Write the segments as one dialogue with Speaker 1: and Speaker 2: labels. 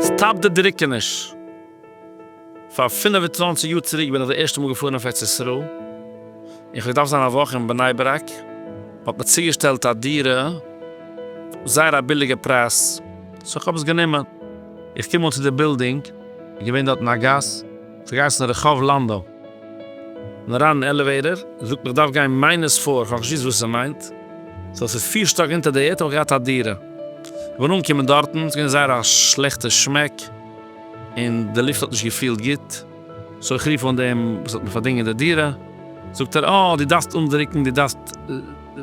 Speaker 1: סטאפ די דריקעניש! פאר פֿינף און צוואַנציק יאר צוריק בין איך די ערשטע מאל געפארן אויף ארץ ישראל, און כ'האב געדארפט זיין א וואך אין בני ברק, מ'האט מיר צוגעשטעלט א דירה, זייער א ביליגע פרייז, סאו כ'האב עס גענומען. איך קום אן צו די בילדינג, איז געווען דארטן א גאס, ס'האט געהייסן רחוב לאנדא, כ'בין אריין אין עלעוועיטער, זי זאגט מיר כ'דארף גיין מיינוס פֿיר, כ'האב נישט געוואוסט וואס ס'מיינט, סאו ס'איז פֿיר שטאק אונטער די ערד האב איך געהאט א דירה, כ'בין אנגעקומען דארטן, ס'געווען זייער א שלעכטע שמעק, און די לופט האט נישט געפילט גוט, סאו איך רוף אן דעם וואס האט מיר פארדינגען די דירה, זאגט ער אה דו דארפסט אנדרוקן, דו דארפסט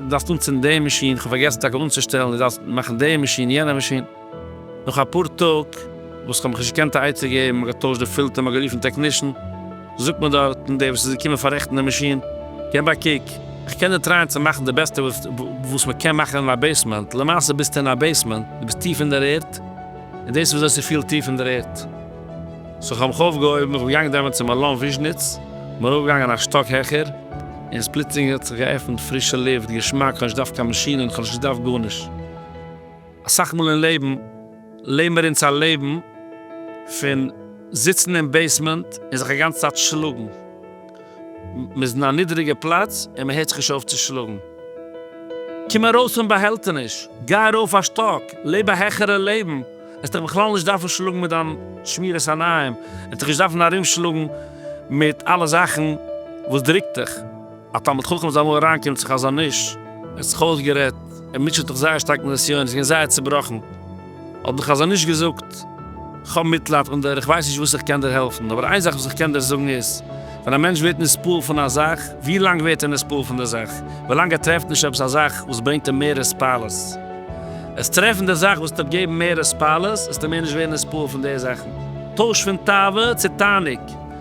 Speaker 1: דארפסט אנצינדן די מאשין, כ'האב פארגעסן טאקע אנצושטעלן, דו דארפסט מאכן די מאשין, יענע מאשין. נאך אפאר טאג וואס כ'האב מיך נישט געקענט א עצה געבן, מ'האט געטוישט די פילטער, מ'האט גערופן טעקנישן, זאגט מיר דארט דער וואס איז געקומען פאררעכטן די מאשין, געב א קוק, כ'קען דיר טרייען צו מאכן די בעסטע וואס מ'קען מאכן אין א בעיסמענט, למעשה ביסטו אין א בעיסמענט, דו ביסט טיף אין דער ערד, און דאס איז וויאזוי ס'פילט טיף אין דער ערד. סאו כ'האב מיך אויפגעהויבן, איך בין געגאנגען דעמאלט צום אלון וויזשניץ, כ'בין ארויפגעגאנגען א שטאק העכער, און פלוצלינג האט זיך געעפנט פרישע לופט, געשמאק, כ'האב נישט געדארפט קיין מאשינען, כ'האב נישט געדארפט גארנישט. אסאך מאל אין לעבן לעבן מיר אונז א לעבן פון זיצן אין בעיסמענט און זיך א גאנצע צייט שלאגן, מען איז אין א נידעריגע פלאץ און מען הערט זיך נישט אויף צו שלאגן. קום ארויס פון באהעלטעניש, גיי ארויף א שטאק, לעב א העכערע לעבן, עסט דיך בכלל נישט דארפן שלאגן מיט דיין שמירת עיניים, עסט דיך נישט דארפן ארום שלאגן מיט אלע זאכן וואס דרוקט דיך. א תלמיד חכם איז אמאל אריין קומט צו חזון איש, ער האט זיך אויסגערעדט, ער מוטשעט זיך זייער שטארק מיט נסיון, ער איז געווען זייער צובראכן, האט דער חזון איש געזאגט, כ'האב מיטלייד און דיר, איך ווייס נישט וואס איך קען דיר העלפן, אבער איין זאך וואס איך קען דיר זאגן איז, ווען א מענטש ווערט נספעל פון א זאך, ווי לאנג ווערט ער נספעל פון די זאך? ווי לאנג ער טרעפט נישט עפעס א זאך וואס ברענגט אים מער הספלות. עס טרעפן די זאך וואס טוט געבן מער הספלות, עסטו מער נישט ווערן נספעל פון די זאכן. טויש פון תאווה צו תענוג.